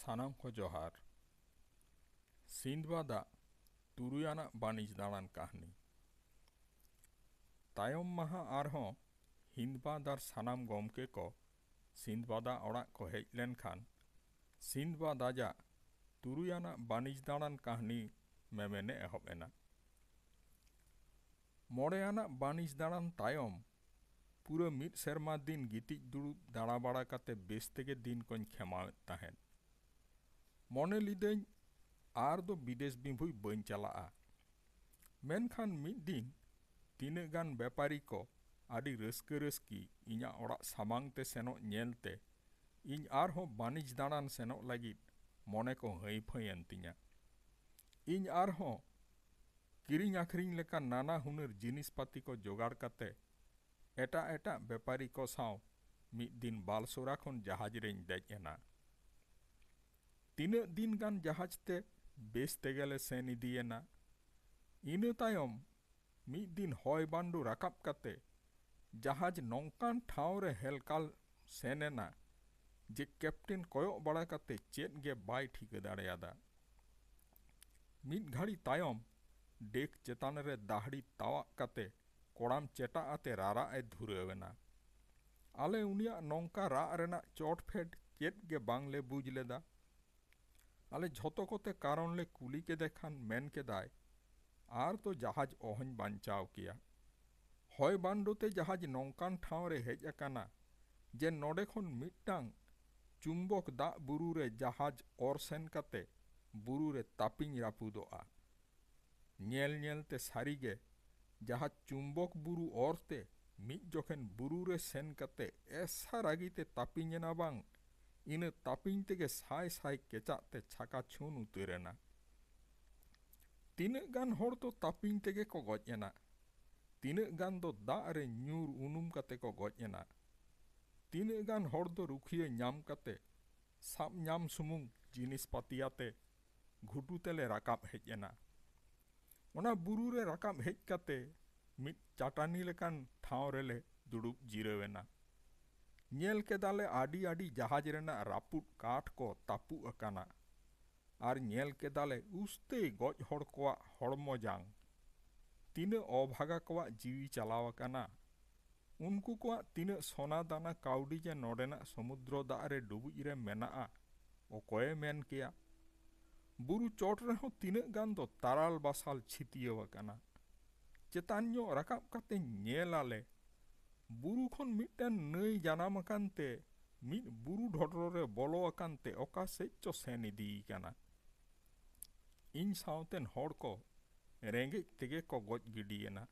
ᱥᱟᱱᱟᱢ ᱠᱚ ᱡᱚᱦᱟᱨ ᱥᱤᱱᱫᱵᱟᱫ ᱟᱜ ᱛᱩᱨᱩᱭ ᱟᱱᱟᱜ ᱵᱟᱹᱱᱤᱡᱽ ᱫᱟᱬᱟᱱ ᱠᱟᱹᱦᱱᱤ ᱛᱟᱭᱚᱢ ᱢᱟᱦᱟ ᱟᱨᱦᱚᱸ ᱦᱤᱱᱫᱵᱟᱫ ᱟᱨ ᱥᱟᱱᱟᱢ ᱜᱚᱢᱠᱮ ᱠᱚ ᱥᱤᱱᱫᱵᱟᱫ ᱟᱜ ᱚᱲᱟᱜ ᱠᱚ ᱦᱮᱡ ᱞᱮᱱᱠᱷᱟᱱ ᱥᱤᱱᱫᱵᱟᱫ ᱟᱡᱟᱜ ᱛᱩᱨᱩᱭ ᱟᱱᱟᱜ ᱵᱟᱹᱱᱤᱡᱽ ᱫᱟᱬᱟᱱ ᱠᱟᱹᱦᱱᱤ ᱢᱮᱢᱮᱱᱮ ᱮᱦᱚᱵ ᱮᱱᱟ ᱢᱚᱬᱮ ᱟᱱᱟᱜ ᱵᱟᱹᱱᱤᱡᱽ ᱫᱟᱬᱟᱱ ᱛᱟᱭᱚᱢ ᱯᱩᱨᱟᱹ ᱢᱤᱫ ᱥᱮᱨᱢᱟ ᱫᱤᱱ ᱜᱤᱛᱤᱡ ᱫᱩᱲᱩᱵ ᱫᱟᱬᱟ ᱵᱟᱲᱟ ᱠᱟᱛᱮ ᱵᱮᱥ ᱛᱮᱜᱮ ᱫᱤᱱ ᱠᱚᱧ ᱠᱷᱮᱢᱟᱣᱮᱫ ᱛᱟᱦᱮᱸᱫ᱾ ᱢᱚᱱᱮ ᱞᱤᱫᱟᱹᱧ ᱟᱨ ᱫᱚ ᱵᱤᱫᱮᱥ ᱵᱤᱵᱷᱩᱭ ᱵᱟᱹᱧ ᱪᱟᱞᱟᱜᱼᱟ᱾ ᱢᱮᱱᱠᱷᱟᱱ ᱢᱤᱫ ᱫᱤᱱ ᱛᱤᱱᱟᱹᱜ ᱜᱟᱱ ᱵᱮᱯᱟᱨᱤ ᱠᱚ ᱟᱹᱰᱤ ᱨᱟᱹᱥᱠᱟᱹ ᱨᱟᱹᱥᱠᱤ ᱤᱧᱟᱜ ᱚᱲᱟᱜ ᱥᱟᱢᱟᱝ ᱛᱮ ᱥᱮᱱᱚᱜ ᱧᱮᱞ ᱛᱮ ᱤᱧ ᱟᱨ ᱦᱚᱸ ᱵᱟᱹᱱᱤᱡᱽ ᱫᱟᱬᱟᱱ ᱥᱮᱱᱚᱜ ᱞᱟᱹᱜᱤᱫ ᱢᱚᱱᱮ ᱠᱚ ᱦᱟᱺᱭ ᱯᱷᱟᱺᱭ ᱮᱱ ᱛᱤᱧᱟ᱾ ᱤᱧ ᱟᱨ ᱦᱚᱸ ᱠᱤᱨᱤᱧ ᱟᱹᱠᱷᱨᱤᱧ ᱞᱮᱠᱟᱱ ᱱᱟᱱᱟ ᱦᱩᱱᱟᱹᱨ ᱡᱤᱱᱤᱥ ᱯᱟᱹᱛᱤ ᱠᱚ ᱡᱚᱜᱟᱲ ᱠᱟᱛᱮ ᱮᱴᱟᱜ ᱮᱴᱟᱜ ᱵᱮᱯᱟᱨᱤ ᱠᱚ ᱥᱟᱶ ᱢᱤᱫ ᱫᱤᱱ ᱵᱟᱞᱥᱳᱨᱟ ᱠᱷᱚᱱ ᱡᱟᱦᱟᱡᱽ ᱨᱮᱧ ᱫᱮᱡ ᱮᱱᱟ᱾ ᱛᱤᱱᱟᱹᱜ ᱫᱤᱱ ᱜᱟᱱ ᱡᱟᱦᱟᱡᱽ ᱛᱮ ᱵᱮᱥ ᱛᱮᱜᱮ ᱞᱮ ᱥᱮᱱ ᱤᱫᱤ ᱮᱱᱟ᱾ ᱤᱱᱟᱹ ᱛᱟᱭᱚᱢ ᱢᱤᱫ ᱫᱤᱱ ᱦᱚᱭ ᱵᱟᱱᱰᱩ ᱨᱟᱠᱟᱵ ᱠᱟᱛᱮ ᱡᱟᱦᱟᱡᱽ ᱱᱚᱝᱠᱟᱱ ᱴᱷᱟᱶ ᱨᱮ ᱦᱮᱞᱠᱟᱞ ᱥᱮᱱ ᱮᱱᱟ ᱡᱮ ᱠᱮᱯᱴᱮᱱ ᱠᱚᱭᱚᱜ ᱵᱟᱲᱟ ᱠᱟᱛᱮ ᱪᱮᱫ ᱜᱮ ᱵᱟᱭ ᱴᱷᱤᱠᱟᱹ ᱫᱟᱲᱮᱭᱟᱫᱟ᱾ ᱢᱤᱫ ᱜᱷᱟᱹᱲᱤ ᱛᱟᱭᱚᱢ ᱰᱮᱠ ᱪᱮᱛᱟᱱ ᱨᱮ ᱫᱟᱦᱲᱤ ᱛᱟᱣᱟᱜ ᱠᱟᱛᱮ ᱠᱚᱲᱟᱢ ᱪᱮᱴᱟᱜ ᱟᱛᱮ ᱨᱟᱨᱟᱜ ᱮ ᱫᱷᱩᱨᱟᱹᱣ ᱮᱱᱟ᱾ ᱟᱞᱮ ᱩᱱᱤᱭᱟᱜ ᱱᱚᱝᱠᱟ ᱨᱟᱜ ᱨᱮᱱᱟᱜ ᱪᱚᱴ ᱯᱷᱮᱰ ᱪᱮᱫ ᱜᱮ ᱵᱟᱝ ᱞᱮ ᱵᱩᱡᱽ ᱞᱮᱫᱟ᱾ ᱟᱞᱮ ᱡᱷᱚᱛᱚ ᱠᱚᱛᱮ ᱠᱟᱨᱚᱱ ᱞᱮ ᱠᱩᱞᱤ ᱠᱮᱫᱮ ᱠᱷᱟᱱ ᱢᱮᱱ ᱠᱮᱫᱟᱭ, ᱟᱨ ᱫᱚ ᱡᱟᱦᱟᱡᱽ ᱚᱦᱚᱧ ᱵᱟᱧᱪᱟᱣ ᱠᱮᱭᱟ᱾ ᱦᱚᱭ ᱵᱟᱱᱰᱚ ᱛᱮ ᱡᱟᱦᱟᱡᱽ ᱱᱚᱝᱠᱟᱱ ᱴᱷᱟᱶ ᱨᱮ ᱦᱮᱡ ᱟᱠᱟᱱᱟ ᱡᱮ ᱱᱚᱰᱮ ᱠᱷᱚᱱ ᱢᱤᱫᱴᱟᱝ ᱪᱩᱢᱵᱚᱠ ᱫᱟᱜ ᱵᱩᱨᱩ ᱨᱮ ᱡᱟᱦᱟᱡᱽ ᱚᱨ ᱥᱮᱱ ᱠᱟᱛᱮ ᱵᱩᱨᱩ ᱨᱮ ᱛᱟᱹᱯᱤᱧ ᱨᱟᱹᱯᱩᱫᱚᱜᱼᱟ᱾ ᱧᱮᱞ ᱧᱮᱞ ᱛᱮ ᱥᱟᱹᱨᱤ ᱜᱮ ᱡᱟᱦᱟᱡᱽ ᱪᱩᱢᱵᱚᱠ ᱵᱩᱨᱩ ᱚᱨ ᱛᱮ ᱢᱤᱫ ᱡᱚᱠᱷᱮᱱ ᱵᱩᱨᱩ ᱨᱮ ᱥᱮᱱ ᱠᱟᱛᱮ ᱮᱥᱥᱟ ᱨᱟᱹᱜᱤ ᱛᱮ ᱛᱟᱹᱯᱤᱧ ᱮᱱᱟ ᱵᱟᱝ ᱤᱱᱟᱹ ᱛᱟᱹᱯᱤᱧ ᱛᱮᱜᱮ ᱥᱟᱭ ᱥᱟᱭ ᱠᱮᱪᱟᱜ ᱛᱮ ᱪᱷᱟᱠᱟ ᱪᱷᱩᱱ ᱩᱛᱟᱹᱨ ᱮᱱᱟ᱾ ᱛᱤᱱᱟᱹᱜ ᱜᱟᱱ ᱦᱚᱲ ᱫᱚ ᱛᱟᱹᱯᱤᱧ ᱛᱮᱜᱮ ᱠᱚ ᱜᱚᱡ ᱮᱱᱟ᱾ ᱛᱤᱱᱟᱹᱜ ᱜᱟᱱ ᱫᱚ ᱫᱟᱜ ᱨᱮ ᱧᱩᱨ ᱩᱱᱩᱢ ᱠᱟᱛᱮ ᱠᱚ ᱜᱚᱡ ᱮᱱᱟ᱾ ᱛᱤᱱᱟᱹᱜ ᱜᱟᱱ ᱦᱚᱲ ᱫᱚ ᱨᱩᱠᱷᱤᱭᱟᱹ ᱧᱟᱢ ᱠᱟᱛᱮ ᱥᱟᱵ ᱧᱟᱢ ᱥᱩᱢᱩᱝ ᱡᱤᱱᱤᱥ ᱯᱟᱹᱛᱤ ᱟᱛᱮ ᱜᱷᱩᱴᱩ ᱛᱮᱞᱮ ᱨᱟᱠᱟᱵ ᱦᱮᱡ ᱮᱱᱟ᱾ ᱚᱱᱟ ᱵᱩᱨᱩ ᱨᱮ ᱨᱟᱠᱟᱵ ᱦᱮᱡ ᱠᱟᱛᱮ ᱢᱤᱫ ᱪᱟᱴᱟᱱᱤ ᱞᱮᱠᱟᱱ ᱴᱷᱟᱶ ᱨᱮᱞᱮ ᱫᱩᱲᱩᱵ ᱡᱤᱨᱟᱹᱣ ᱮᱱᱟ᱾ ᱧᱮᱞ ᱠᱮᱫᱟ ᱞᱮ ᱟᱹᱰᱤ ᱟᱹᱰᱤ ᱡᱟᱦᱟᱡᱽ ᱨᱮᱱᱟᱜ ᱨᱟᱹᱯᱩᱫ ᱠᱟᱴ ᱠᱚ ᱛᱟᱹᱯᱩᱜ ᱟᱠᱟᱱᱟ ᱟᱨ ᱧᱮᱞ ᱠᱮᱫᱟ ᱞᱮ ᱩᱥᱛᱟᱹᱭ ᱜᱚᱡ ᱦᱚᱲ ᱠᱚᱣᱟᱜ ᱦᱚᱲᱢᱚ ᱡᱟᱝ᱾ ᱛᱤᱱᱟᱹᱜ ᱚᱵᱷᱟᱜᱟ ᱠᱚᱣᱟᱜ ᱡᱤᱣᱤ ᱪᱟᱞᱟᱣ ᱟᱠᱟᱱᱟ᱾ ᱩᱱᱠᱩ ᱠᱚᱣᱟᱜ ᱛᱤᱱᱟᱹᱜ ᱥᱚᱱᱟ ᱫᱟᱱᱟ ᱠᱟᱹᱣᱰᱤ ᱡᱮ ᱱᱚᱰᱮᱱᱟᱜ ᱥᱚᱢᱩᱫᱽᱨᱚ ᱫᱟᱜ ᱨᱮ ᱰᱩᱵᱩᱡ ᱨᱮ ᱢᱮᱱᱟᱜᱼᱟ, ᱚᱠᱚᱭᱮ ᱢᱮᱱ ᱠᱮᱭᱟ? ᱵᱩᱨᱩ ᱪᱚᱴ ᱨᱮᱦᱚᱸ ᱛᱤᱱᱟᱹᱜ ᱜᱟᱱ ᱫᱚ ᱛᱟᱨᱟᱞ ᱵᱟᱥᱟᱞ ᱪᱷᱤᱛᱤᱭᱟᱹᱣ ᱟᱠᱟᱱᱟ᱾ ᱪᱮᱛᱟᱱ ᱧᱚᱜ ᱨᱟᱠᱟᱵ ᱠᱟᱛᱮ ᱧᱮᱞ ᱟᱞᱮ, ᱵᱩᱨᱩ ᱠᱷᱚᱱ ᱢᱤᱫᱴᱟᱹᱝ ᱱᱟᱹᱭ ᱡᱟᱱᱟᱢ ᱟᱠᱟᱱ ᱛᱮ ᱢᱤᱫ ᱵᱩᱨᱩ ᱰᱷᱚᱰᱨᱚ ᱨᱮ ᱵᱚᱞᱚ ᱟᱠᱟᱱ ᱛᱮ ᱚᱠᱟ ᱥᱮᱡ ᱪᱚ ᱥᱮᱱ ᱤᱫᱤ ᱟᱠᱟᱱᱟ᱾ ᱤᱧ ᱥᱟᱶᱛᱮᱱ ᱦᱚᱲ ᱠᱚ ᱨᱮᱸᱜᱮᱡ ᱛᱮᱜᱮ ᱠᱚ ᱜᱚᱡ ᱜᱤᱰᱤ ᱮᱱᱟ᱾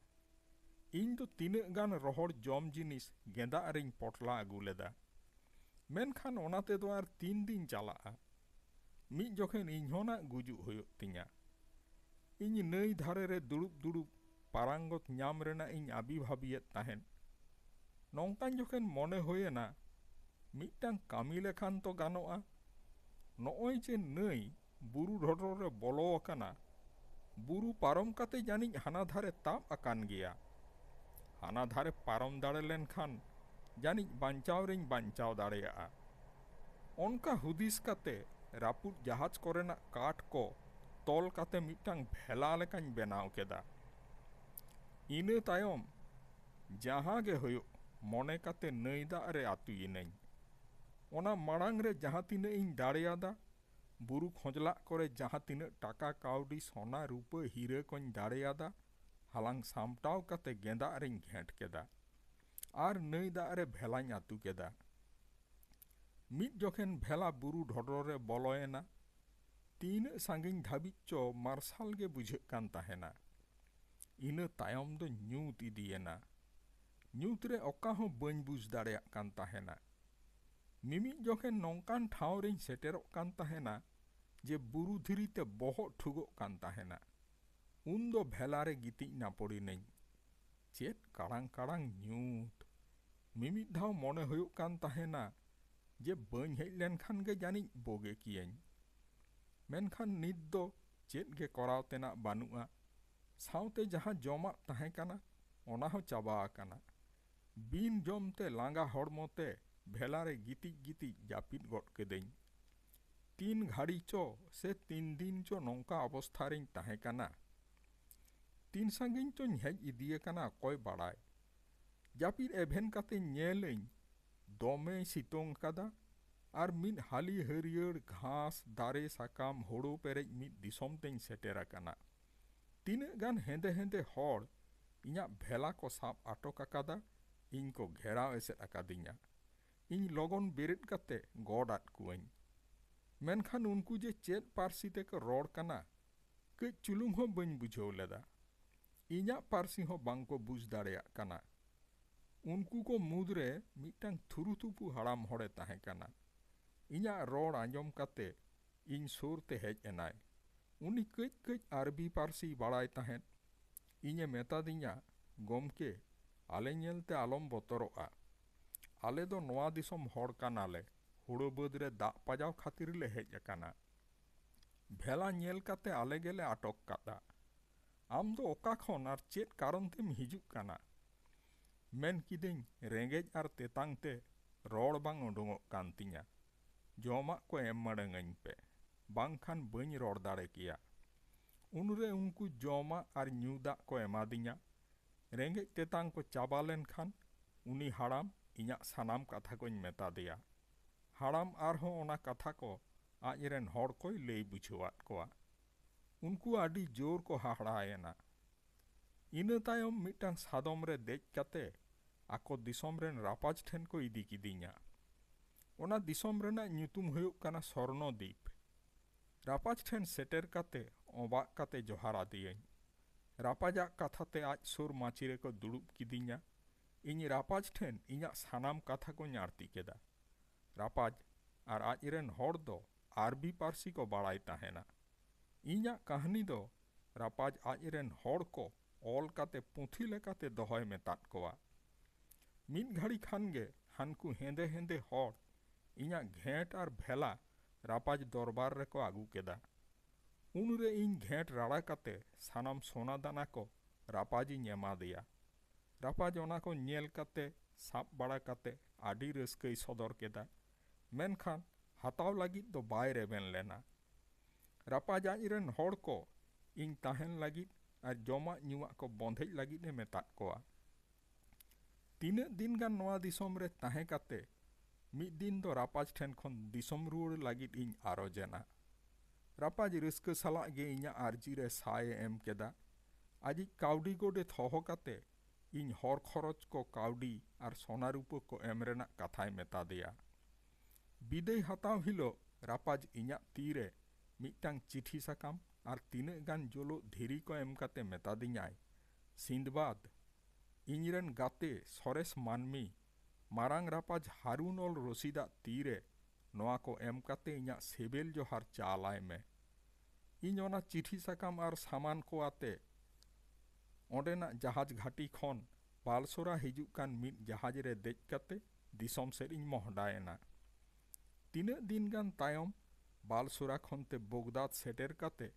ᱤᱧ ᱫᱚ ᱛᱤᱱᱟᱹᱜ ᱜᱟᱱ ᱨᱚᱦᱚᱲ ᱡᱚᱢ ᱡᱤᱱᱤᱥ ᱜᱮᱸᱫᱟᱜ ᱨᱮᱧ ᱯᱚᱴᱞᱟ ᱟᱹᱜᱩ ᱞᱮᱫᱟ᱾ ᱢᱮᱱᱠᱷᱟᱱ ᱚᱱᱟ ᱛᱮᱫᱚ ᱟᱨ ᱛᱤᱱ ᱫᱤᱱ ᱪᱟᱞᱟᱜᱼᱟ? ᱢᱤᱫ ᱡᱚᱠᱷᱮᱱ ᱤᱧᱦᱚᱸ ᱱᱟᱜ ᱜᱩᱡᱩᱜ ᱦᱩᱭᱩᱜ ᱛᱤᱧᱟ᱾ ᱤᱧ ᱱᱟᱹᱭ ᱫᱷᱟᱨᱮ ᱨᱮ ᱫᱩᱲᱩᱵ ᱫᱩᱲᱩᱵ ᱯᱟᱨᱟᱝᱜᱚᱛ ᱧᱟᱢ ᱨᱮᱱᱟᱜ ᱤᱧ ᱟᱹᱵᱤ ᱵᱷᱟᱹᱵᱤᱭᱮᱫ ᱛᱟᱦᱮᱸᱫ᱾ ᱱᱚᱝᱠᱟᱱ ᱡᱚᱠᱷᱮᱱ ᱢᱚᱱᱮ ᱦᱩᱭ ᱮᱱᱟ ᱢᱤᱫᱴᱟᱹᱝ ᱠᱟᱹᱢᱤ ᱞᱮᱠᱷᱟᱱ ᱛᱚ ᱜᱟᱱᱚᱜᱼᱟ᱾ ᱱᱚᱜᱼᱚᱭ ᱡᱮ ᱱᱟᱹᱭ ᱵᱩᱨᱩ ᱰᱷᱚᱰᱚᱨ ᱨᱮ ᱵᱚᱞᱚ ᱟᱠᱟᱱᱟ᱾ ᱵᱩᱨᱩ ᱯᱟᱨᱚᱢ ᱠᱟᱛᱮ ᱡᱟᱹᱱᱤᱡ ᱦᱟᱱᱟ ᱫᱷᱟᱨᱮ ᱛᱟᱵ ᱟᱠᱟᱱ ᱜᱮᱭᱟ᱾ ᱦᱟᱱᱟ ᱫᱷᱟᱨᱮ ᱯᱟᱨᱚᱢ ᱫᱟᱲᱮ ᱞᱮᱱ ᱠᱷᱟᱱ ᱡᱟᱹᱱᱤᱡ ᱵᱟᱧᱪᱟᱣ ᱨᱮᱧ ᱵᱟᱧᱪᱟᱣ ᱫᱟᱲᱮᱭᱟᱜᱼᱟ᱾ ᱚᱱᱠᱟ ᱦᱩᱫᱤᱥ ᱠᱟᱛᱮ ᱨᱟᱹᱯᱩᱫ ᱡᱟᱦᱟᱡᱽ ᱠᱚᱨᱮᱱᱟᱜ ᱠᱟᱴ ᱠᱚ ᱛᱚᱞ ᱠᱟᱛᱮ ᱢᱤᱫᱴᱟᱹᱝ ᱵᱷᱮᱞᱟ ᱞᱮᱠᱟᱧ ᱵᱮᱱᱟᱣ ᱠᱮᱫᱟ᱾ ᱤᱱᱟᱹ ᱛᱟᱭᱚᱢ ᱡᱟᱦᱟᱸ ᱜᱮ ᱦᱩᱭᱩᱜ ᱢᱚᱱᱮ ᱠᱟᱛᱮ ᱱᱟᱹᱭ ᱫᱟᱜ ᱨᱮ ᱟᱹᱛᱩᱭᱮᱱᱟᱹᱧ᱾ ᱚᱱᱟ ᱢᱟᱬᱟᱝ ᱨᱮ ᱡᱟᱦᱟᱸ ᱛᱤᱱᱟᱹᱜ ᱤᱧ ᱫᱟᱲᱮᱭᱟᱫᱟ ᱵᱩᱨᱩ ᱠᱷᱚᱸᱡᱽᱞᱟᱜ ᱠᱚᱨᱮ ᱡᱟᱦᱟᱸ ᱛᱤᱱᱟᱹᱜ ᱴᱟᱠᱟ ᱠᱟᱹᱣᱰᱤ, ᱥᱚᱱᱟ, ᱨᱩᱯᱟᱹ, ᱦᱤᱨᱟᱹ ᱠᱚᱧ ᱫᱟᱲᱮ ᱟᱫᱟ, ᱦᱟᱞᱟᱝ ᱥᱟᱢᱴᱟᱣ ᱠᱟᱛᱮ ᱜᱮᱸᱫᱟᱜ ᱨᱮᱧ ᱜᱷᱮᱸᱴ ᱠᱮᱫᱟ᱾ ᱟᱨ ᱱᱟᱹᱭ ᱫᱟᱜ ᱨᱮ ᱵᱷᱮᱞᱟᱧ ᱟᱹᱛᱩ ᱠᱮᱫᱟ᱾ ᱢᱤᱫ ᱡᱚᱠᱷᱮᱱ ᱵᱷᱮᱞᱟ ᱵᱩᱨᱩ ᱰᱷᱚᱰᱚᱨ ᱨᱮ ᱵᱚᱞᱚ ᱮᱱᱟ᱾ ᱛᱤᱱᱟᱹᱜ ᱥᱟᱺᱜᱤᱧ ᱫᱷᱟᱹᱵᱤᱡ ᱪᱚ ᱢᱟᱨᱥᱟᱞ ᱜᱮ ᱵᱩᱡᱷᱟᱹᱜ ᱠᱟᱱ ᱛᱟᱦᱮᱸᱱᱟ᱾ ᱤᱱᱟᱹ ᱛᱟᱭᱚᱢ ᱫᱚ ᱧᱩᱛ ᱤᱫᱤ ᱮᱱᱟ᱾ ᱧᱩᱛ ᱨᱮ ᱚᱠᱟ ᱦᱚᱸ ᱵᱟᱹᱧ ᱵᱩᱡᱽ ᱫᱟᱲᱮᱭᱟᱜ ᱠᱟᱱ ᱛᱟᱦᱮᱸᱱᱟ᱾ ᱢᱤᱢᱤᱫ ᱡᱚᱠᱷᱮᱱ ᱱᱚᱝᱠᱟᱱ ᱴᱷᱟᱶ ᱨᱮᱧ ᱥᱮᱴᱮᱨᱚᱜ ᱠᱟᱱ ᱛᱟᱦᱮᱸᱱᱟ ᱡᱮ ᱵᱩᱨᱩ ᱫᱷᱤᱨᱤ ᱛᱮ ᱵᱚᱦᱚᱜ ᱴᱷᱩᱜᱚᱜ ᱠᱟᱱ ᱛᱟᱦᱮᱸᱱᱟ᱾ ᱩᱱ ᱫᱚ ᱵᱷᱮᱞᱟ ᱨᱮ ᱜᱤᱛᱤᱡ ᱱᱟᱯᱚᱲ ᱤᱱᱟᱹᱧ᱾ ᱪᱮᱫ ᱠᱟᱲᱟᱝ ᱠᱟᱲᱟᱝ ᱧᱩᱛ! ᱢᱤᱢᱤᱫ ᱫᱷᱟᱣ ᱢᱚᱱᱮ ᱦᱩᱭᱩᱜ ᱠᱟᱱ ᱛᱟᱦᱮᱸᱱᱟ ᱡᱮ ᱵᱟᱹᱧ ᱦᱮᱡ ᱞᱮᱱ ᱠᱷᱟᱱ ᱜᱮ ᱡᱟᱹᱱᱤᱡ ᱵᱳᱜᱮ ᱠᱮᱭᱟᱹᱧ᱾ ᱢᱮᱱᱠᱷᱟᱱ ᱱᱤᱛ ᱫᱚ ᱪᱮᱫ ᱜᱮ ᱠᱚᱨᱟᱣ ᱛᱮᱱᱟᱜ ᱵᱟᱹᱱᱩᱜᱼᱟ᱾ ᱥᱟᱶᱛᱮ ᱡᱟᱦᱟᱸ ᱡᱚᱢᱟᱜ ᱛᱟᱦᱮᱸ ᱠᱟᱱᱟ ᱚᱱᱟ ᱦᱚᱸ ᱪᱟᱵᱟ ᱟᱠᱟᱱᱟ᱾ ᱵᱤᱱ ᱡᱚᱢ ᱛᱮ ᱞᱟᱸᱜᱟ ᱦᱚᱲᱢᱚ ᱛᱮ ᱵᱷᱮᱞᱟ ᱨᱮ ᱜᱤᱛᱤᱡ ᱜᱤᱛᱤᱡ ᱡᱟᱹᱯᱤᱫ ᱜᱚᱫ ᱠᱮᱫᱟᱹᱧ᱾ ᱛᱤᱱ ᱜᱷᱟᱹᱲᱤ ᱪᱚ ᱥᱮ ᱛᱤᱱ ᱫᱤᱱ ᱪᱚ ᱱᱚᱝᱠᱟ ᱚᱵᱚᱥᱛᱷᱟ ᱨᱮᱧ ᱛᱟᱦᱮᱸ ᱠᱟᱱᱟ᱾ ᱛᱤᱱ ᱥᱟᱺᱜᱤᱧ ᱪᱚᱧ ᱦᱮᱡ ᱤᱫᱤ ᱟᱠᱟᱱᱟ ᱚᱠᱚᱭ ᱵᱟᱲᱟᱭ᱾ ᱡᱟᱹᱯᱤᱫ ᱮᱵᱷᱮᱱ ᱠᱟᱛᱮᱧ ᱧᱮᱞ ᱟᱹᱧ ᱫᱚᱢᱮᱭ ᱥᱤᱛᱚᱝ ᱟᱠᱟᱫᱟ ᱟᱨ ᱢᱤᱫ ᱦᱟᱹᱞᱤ ᱦᱟᱹᱨᱭᱟᱹᱲ ᱜᱷᱟᱸᱥ, ᱫᱟᱨᱮ, ᱥᱟᱠᱟᱢ, ᱦᱳᱲᱳ ᱯᱮᱨᱮᱡ ᱢᱤᱫ ᱫᱤᱥᱚᱢ ᱛᱮᱧ ᱥᱮᱴᱮᱨ ᱟᱠᱟᱱᱟ᱾ ᱛᱤᱱᱟᱹᱜ ᱜᱟᱱ ᱦᱮᱸᱫᱮ ᱦᱮᱸᱫᱮ ᱦᱚᱲ ᱤᱧᱟᱜ ᱵᱷᱮᱞᱟ ᱠᱚ ᱥᱟᱵ ᱟᱴᱚᱠ ᱟᱠᱟᱫᱟ, ᱤᱧ ᱠᱚ ᱜᱷᱮᱨᱟᱣ ᱮᱥᱮᱫ ᱟᱠᱟᱫᱤᱧᱟ᱾ ᱤᱧ ᱞᱚᱜᱚᱱ ᱵᱮᱨᱮᱫ ᱠᱟᱛᱮ ᱜᱚᱰ ᱟᱫ ᱠᱚᱣᱟᱹᱧ᱾ ᱢᱮᱱᱠᱷᱟᱱ ᱩᱱᱠᱩ ᱡᱮ ᱪᱮᱫ ᱯᱟᱹᱨᱥᱤ ᱛᱮ ᱠᱚ ᱨᱚᱲ ᱠᱟᱱᱟ, ᱠᱟᱹᱡ ᱪᱩᱞᱩᱝ ᱦᱚᱸ ᱵᱟᱹᱧ ᱵᱩᱡᱷᱟᱹᱣ ᱞᱮᱫᱟ᱾ ᱤᱧᱟᱜ ᱯᱟᱹᱨᱥᱤ ᱦᱚᱸ ᱵᱟᱝ ᱠᱚ ᱵᱩᱡᱷ ᱫᱟᱲᱮᱭᱟᱜ ᱠᱟᱱᱟ᱾ ᱩᱱᱠᱩ ᱠᱚ ᱢᱩᱫᱽ ᱨᱮ ᱢᱤᱫᱴᱟᱝ ᱛᱷᱩᱨᱩᱛᱷᱩᱯᱩ ᱦᱟᱲᱟᱢ ᱦᱚᱲ ᱮ ᱛᱟᱦᱮᱸ ᱠᱟᱱᱟ᱾ ᱤᱧᱟᱜ ᱨᱚᱲ ᱟᱸᱡᱚᱢ ᱠᱟᱛᱮ ᱤᱧ ᱥᱩᱨ ᱛᱮ ᱦᱮᱡ ᱮᱱᱟᱭ᱾ ᱩᱱᱤ ᱠᱟᱹᱡ ᱠᱟᱹᱡ ᱟᱨᱵᱤ ᱯᱟᱹᱨᱥᱤᱭ ᱵᱟᱲᱟᱭ ᱛᱟᱦᱮᱸᱫ᱾ ᱤᱧ ᱮ ᱢᱮᱛᱟᱫᱤᱧᱟ, ᱜᱚᱢᱠᱮ, ᱟᱞᱮ ᱧᱮᱞ ᱛᱮ ᱟᱞᱚᱢ ᱵᱚᱛᱚᱨᱚᱜᱼᱟ᱾ ᱟᱞᱮ ᱫᱚ ᱱᱚᱶᱟ ᱫᱤᱥᱚᱢ ᱦᱚᱲ ᱠᱟᱱᱟ ᱞᱮ, ᱦᱩᱲᱩ ᱵᱟᱹᱫᱽ ᱨᱮ ᱫᱟᱜ ᱯᱟᱡᱟᱣ ᱠᱷᱟᱹᱛᱤᱨ ᱞᱮ ᱦᱮᱡ ᱟᱠᱟᱱᱟ᱾ ᱵᱷᱮᱞᱟ ᱧᱮᱞ ᱠᱟᱛᱮ ᱟᱞᱮ ᱜᱮ ᱞᱮ ᱟᱴᱚᱠ ᱠᱟᱫᱼᱟ᱾ ᱟᱢ ᱫᱚ ᱚᱠᱟ ᱠᱷᱚᱱ ᱟᱨ ᱪᱮᱫ ᱠᱟᱨᱚᱱ ᱛᱮᱢ ᱦᱤᱡᱩᱜ ᱠᱟᱱᱟ? ᱢᱮᱱ ᱠᱤᱫᱟᱹᱧ ᱨᱮᱸᱜᱮᱡ ᱟᱨ ᱛᱮᱛᱟᱝ ᱛᱮ ᱨᱚᱲ ᱵᱟᱝ ᱚᱰᱚᱝᱚᱜ ᱠᱟᱱ ᱛᱤᱧᱟ᱾ ᱡᱚᱢᱟᱜ ᱠᱚ ᱮᱢ ᱢᱟᱲᱟᱝ ᱟᱹᱧ ᱯᱮ, ᱵᱟᱝ ᱠᱷᱟᱱ ᱵᱟᱹᱧ ᱨᱚᱲ ᱫᱟᱲᱮ ᱠᱮᱭᱟ᱾ ᱩᱱ ᱨᱮ ᱩᱱᱠᱩ ᱡᱚᱢᱟᱜ ᱟᱨ ᱧᱩ ᱫᱟᱜ ᱠᱚ ᱮᱢᱟ ᱫᱤᱧᱟ᱾ ᱨᱮᱸᱜᱮᱡ ᱛᱮᱛᱟᱝ ᱠᱚ ᱪᱟᱵᱟ ᱞᱮᱱ ᱠᱷᱟᱱ ᱩᱱᱤ ᱦᱟᱲᱟᱢ ᱤᱧᱟᱜ ᱥᱟᱱᱟᱢ ᱠᱟᱛᱷᱟ ᱠᱚᱧ ᱢᱮᱛᱟ ᱫᱮᱭᱟ᱾ ᱦᱟᱲᱟᱢ ᱟᱨ ᱦᱚᱸ ᱚᱱᱟ ᱠᱟᱛᱷᱟ ᱠᱚ ᱟᱡ ᱨᱮᱱ ᱦᱚᱲ ᱠᱚᱭ ᱞᱟᱹᱭ ᱵᱩᱡᱷᱟᱹᱣᱟᱫ ᱠᱚᱣᱟ᱾ ᱩᱱᱠᱩ ᱟᱹᱰᱤ ᱡᱳᱨ ᱠᱚ ᱦᱟᱦᱟᱲᱟ ᱮᱱᱟ᱾ ᱤᱱᱟᱹ ᱛᱟᱭᱚᱢ ᱢᱤᱫᱴᱟᱹᱝ ᱥᱟᱫᱚᱢ ᱨᱮ ᱫᱮᱡ ᱠᱟᱛᱮ ᱟᱠᱚ ᱫᱤᱥᱚᱢ ᱨᱮᱱ ᱨᱟᱯᱟᱡᱽ ᱴᱷᱮᱱ ᱠᱚ ᱤᱫᱤ ᱠᱤᱫᱤᱧᱟ᱾ ᱚᱱᱟ ᱫᱤᱥᱚᱢ ᱨᱮᱱᱟᱜ ᱧᱩᱛᱩᱢ ᱦᱩᱭᱩᱜ ᱠᱟᱱᱟ ᱥᱚᱨᱱᱚ ᱫᱤᱯ᱾ ᱨᱟᱯᱟᱡᱽ ᱴᱷᱮᱱ ᱥᱮᱴᱮᱨ ᱠᱟᱛᱮ ᱚᱵᱟᱜ ᱠᱟᱛᱮ ᱡᱚᱦᱟᱨ ᱟᱫᱮᱭᱟᱹᱧ᱾ ᱨᱟᱯᱟᱡᱽ ᱟᱜ ᱠᱟᱛᱷᱟ ᱛᱮ ᱟᱡ ᱥᱩᱨ ᱢᱟᱹᱪᱤ ᱨᱮ ᱠᱚ ᱫᱩᱲᱩᱵ ᱠᱤᱫᱤᱧᱟ᱾ ᱤᱧ ᱨᱟᱯᱟᱡᱽ ᱴᱷᱮᱱ ᱤᱧᱟᱜ ᱥᱟᱱᱟᱢ ᱠᱟᱛᱷᱟ ᱠᱚᱧ ᱟᱬᱛᱤ ᱠᱮᱫᱟ᱾ ᱨᱟᱯᱟᱡᱽ ᱟᱨ ᱟᱡ ᱨᱮᱱ ᱦᱚᱲ ᱫᱚ ᱟᱨᱵᱤ ᱯᱟᱹᱨᱥᱤ ᱠᱚ ᱵᱟᱲᱟᱭ ᱛᱟᱦᱮᱸᱱᱟ᱾ ᱤᱧᱟᱜ ᱠᱟᱹᱦᱱᱤ ᱫᱚ ᱨᱟᱯᱟᱡᱽ ᱟᱡ ᱨᱮᱱ ᱦᱚᱲ ᱠᱚ ᱚᱞ ᱠᱟᱛᱮ ᱯᱩᱛᱷᱤ ᱞᱮᱠᱟᱛᱮ ᱫᱚᱦᱚᱭ ᱢᱮᱛᱟᱫ ᱠᱚᱣᱟ᱾ ᱢᱤᱫ ᱜᱷᱟᱹᱲᱤ ᱠᱷᱟᱱ ᱜᱮ ᱦᱟᱱᱠᱩ ᱦᱮᱸᱫᱮ ᱦᱮᱸᱫᱮ ᱦᱚᱲ ᱤᱧᱟᱜ ᱜᱷᱮᱸᱴ ᱟᱨ ᱵᱷᱮᱞᱟ ᱨᱟᱯᱟᱡᱽ ᱫᱚᱨᱵᱟᱨ ᱨᱮᱠᱚ ᱟᱹᱜᱩ ᱠᱮᱫᱟ᱾ ᱩᱱ ᱨᱮ ᱤᱧ ᱜᱷᱮᱸᱴ ᱨᱟᱲᱟ ᱠᱟᱛᱮ ᱥᱟᱱᱟᱢ ᱥᱚᱱᱟ ᱫᱟᱱᱟ ᱠᱚ ᱨᱟᱯᱟᱡᱽ ᱤᱧ ᱮᱢᱟᱫᱮᱭᱟ᱾ ᱨᱟᱯᱟᱡᱽ ᱚᱱᱟ ᱠᱚ ᱧᱮᱞ ᱠᱟᱛᱮ ᱥᱟᱵ ᱵᱟᱲᱟ ᱠᱟᱛᱮ ᱟᱹᱰᱤ ᱨᱟᱹᱥᱠᱟᱹᱭ ᱥᱚᱫᱚᱨ ᱠᱮᱫᱟ᱾ ᱢᱮᱱᱠᱷᱟᱱ ᱦᱟᱛᱟᱣ ᱞᱟᱹᱜᱤᱫ ᱫᱚ ᱵᱟᱭ ᱨᱮᱵᱮᱱ ᱞᱮᱱᱟ᱾ ᱨᱟᱯᱟᱡᱽ ᱟᱡ ᱨᱮᱱ ᱦᱚᱲ ᱠᱚ ᱤᱧ ᱛᱟᱦᱮᱸᱱ ᱞᱟᱹᱜᱤᱫ ᱟᱨ ᱡᱚᱢᱟᱜ ᱧᱩᱣᱟᱜ ᱠᱚ ᱵᱚᱸᱫᱷᱮᱡ ᱞᱟᱹᱜᱤᱫ ᱮ ᱢᱮᱛᱟᱫ ᱠᱚᱣᱟ᱾ ᱛᱤᱱᱟᱹᱜ ᱫᱤᱱ ᱜᱟᱱ ᱱᱚᱶᱟ ᱫᱤᱥᱚᱢ ᱨᱮ ᱛᱟᱦᱮᱸ ᱠᱟᱛᱮ ᱢᱤᱫ ᱫᱤᱱ ᱫᱚ ᱨᱟᱯᱟᱡᱽ ᱴᱷᱮᱱ ᱠᱷᱚᱱ ᱫᱤᱥᱚᱢ ᱨᱩᱣᱟᱹᱲ ᱞᱟᱹᱜᱤᱫ ᱤᱧ ᱟᱨᱚᱡᱽ ᱮᱱᱟ᱾ ᱨᱟᱯᱟᱡᱽ ᱨᱟᱹᱥᱠᱟᱹ ᱥᱟᱞᱟᱜ ᱜᱮ ᱤᱧᱟᱜ ᱟᱨᱡᱤ ᱨᱮ ᱥᱟᱭ ᱮ ᱮᱢ ᱠᱮᱫᱟ᱾ ᱟᱡᱤᱡ ᱠᱟᱹᱣᱰᱤ ᱜᱚᱰᱮᱛ ᱦᱚᱦᱚ ᱠᱟᱛᱮ ᱤᱧ ᱦᱚᱨ ᱠᱷᱚᱨᱚᱪ ᱠᱚ ᱠᱟᱹᱣᱰᱤ ᱟᱨ ᱥᱚᱱᱟ ᱨᱩᱯᱟᱹ ᱠᱚ ᱮᱢ ᱨᱮᱱᱟᱜ ᱠᱟᱛᱷᱟᱭ ᱢᱮᱛᱟᱫᱮᱭᱟ᱾ ᱵᱤᱫᱟᱹᱭ ᱦᱟᱛᱟᱣ ᱦᱤᱞᱚᱜ ᱨᱟᱯᱟᱡᱽ ᱤᱧᱟᱜ ᱛᱤ ᱨᱮ ᱢᱤᱫᱴᱟᱹᱝ ᱪᱤᱴᱷᱤ ᱥᱟᱠᱟᱢ ᱟᱨ ᱛᱤᱱᱟᱹᱜ ᱜᱟᱱ ᱡᱳᱞᱳᱜ ᱫᱷᱤᱨᱤ ᱠᱚ ᱮᱢ ᱠᱟᱛᱮ ᱢᱮᱛᱟᱫᱤᱧᱟᱭ, ᱥᱤᱸᱫᱽᱵᱟᱫᱽ, ᱤᱧ ᱨᱮᱱ ᱜᱟᱛᱮ ᱥᱚᱨᱮᱥ ᱢᱟᱹᱱᱢᱤ ᱢᱟᱨᱟᱝ ᱨᱟᱯᱟᱡᱽ ᱦᱟᱨᱩᱱ ᱚᱞ ᱨᱚᱥᱤᱫᱽ ᱟᱜ ᱛᱤ ᱨᱮ ᱱᱚᱶᱟ ᱠᱚ ᱮᱢ ᱠᱟᱛᱮ ᱤᱧᱟᱜ ᱥᱮᱵᱮᱞ ᱡᱚᱦᱟᱨ ᱪᱟᱞ ᱟᱭ ᱢᱮ᱾ ᱤᱧ ᱚᱱᱟ ᱪᱤᱴᱷᱤ ᱥᱟᱠᱟᱢ ᱟᱨ ᱥᱟᱢᱟᱱ ᱠᱚ ᱟᱛᱮ ᱚᱸᱰᱮᱱᱟᱜ ᱡᱟᱦᱟᱡᱽ ᱜᱷᱟᱹᱴᱤ ᱠᱷᱚᱱ ᱵᱟᱞᱥᱳᱨᱟ ᱦᱤᱡᱩᱜ ᱠᱟᱱ ᱢᱤᱫ ᱡᱟᱦᱟᱡᱽ ᱨᱮ ᱫᱮᱡ ᱠᱟᱛᱮ ᱫᱤᱥᱚᱢ ᱥᱮᱫ ᱤᱧ ᱢᱚᱦᱰᱟ ᱮᱱᱟ᱾ ᱛᱤᱱᱟᱹᱜ ᱫᱤᱱ ᱜᱟᱱ ᱛᱟᱭᱚᱢ ᱵᱟᱞᱥᱳᱨᱟ ᱠᱷᱚᱱ ᱛᱮ ᱵᱚᱜᱽᱫᱟᱫᱽ ᱥᱮᱴᱮᱨ ᱠᱟᱛᱮ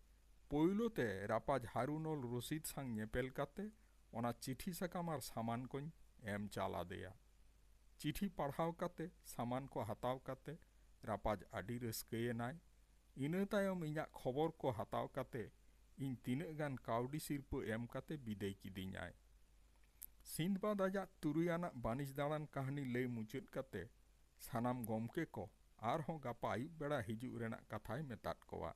ᱯᱳᱭᱞᱳ ᱛᱮ ᱨᱟᱯᱟᱡᱽ ᱦᱟᱨᱩᱱᱚᱞ ᱨᱚᱥᱤᱫᱽ ᱥᱟᱝ ᱧᱮᱯᱮᱞ ᱠᱟᱛᱮ ᱚᱱᱟ ᱪᱤᱴᱷᱤ ᱥᱟᱠᱟᱢ ᱟᱨ ᱥᱟᱢᱟᱱ ᱠᱚᱧ ᱮᱢ ᱪᱟᱞ ᱟᱫᱮᱭᱟ᱾ ᱪᱤᱴᱷᱤ ᱯᱟᱲᱦᱟᱣ ᱠᱟᱛᱮ ᱥᱟᱢᱟᱱ ᱠᱚ ᱦᱟᱛᱟᱣ ᱠᱟᱛᱮ ᱨᱟᱯᱟᱡᱽ ᱟᱹᱰᱤ ᱨᱟᱹᱥᱠᱟᱹ ᱮᱱᱟᱭ᱾ ᱤᱱᱟᱹ ᱛᱟᱭᱚᱢ ᱤᱧᱟᱜ ᱠᱷᱚᱵᱚᱨ ᱠᱚ ᱦᱟᱛᱟᱣ ᱠᱟᱛᱮ ᱤᱧ ᱛᱤᱱᱟᱹᱜ ᱜᱟᱱ ᱠᱟᱹᱣᱰᱤ ᱥᱤᱨᱯᱟᱹ ᱮᱢ ᱠᱟᱛᱮ ᱵᱤᱫᱟᱹᱭ ᱠᱤᱫᱤᱧᱟᱭ᱾ ᱥᱤᱱᱫᱵᱟᱫᱽ ᱟᱡᱟᱜ ᱛᱩᱨᱩᱭ ᱟᱱᱟᱜ ᱵᱟᱹᱱᱤᱡᱽ ᱫᱟᱬᱟᱱ ᱠᱟᱹᱦᱱᱤ ᱞᱟᱹᱭ ᱢᱩᱪᱟᱹᱫ ᱠᱟᱛᱮ ᱥᱟᱱᱟᱢ ᱜᱚᱢᱠᱮ ᱠᱚ ᱟᱨᱦᱚᱸ ᱜᱟᱯᱟ ᱟᱹᱭᱩᱵ ᱵᱮᱲᱟ ᱦᱤᱡᱩᱜ ᱨᱮᱱᱟᱜ ᱠᱟᱛᱷᱟᱭ ᱢᱮᱛᱟᱫ ᱠᱚᱣᱟ᱾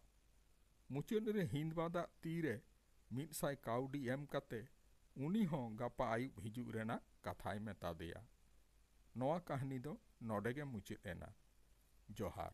ᱢᱩᱪᱟᱹᱫ ᱨᱮ ᱦᱤᱱᱫᱵᱟᱫᱽ ᱟᱜ ᱛᱤ ᱨᱮ ᱢᱤᱫ ᱥᱟᱭ ᱠᱟᱹᱣᱰᱤ ᱮᱢ ᱠᱟᱛᱮ ᱩᱱᱤ ᱦᱚᱸ ᱜᱟᱯᱟ ᱟᱹᱭᱩᱵ ᱦᱤᱡᱩᱜ ᱨᱮᱱᱟᱜ ᱠᱟᱛᱷᱟᱭ ᱢᱮᱛᱟᱫᱮᱭᱟ᱾ ᱱᱚᱣᱟ ᱠᱟᱹᱦᱱᱤ ᱫᱚ ᱱᱚᱰᱮ ᱜᱮ ᱢᱩᱪᱟᱹᱫ ᱮᱱᱟ᱾ ᱡᱚᱦᱟᱨ᱾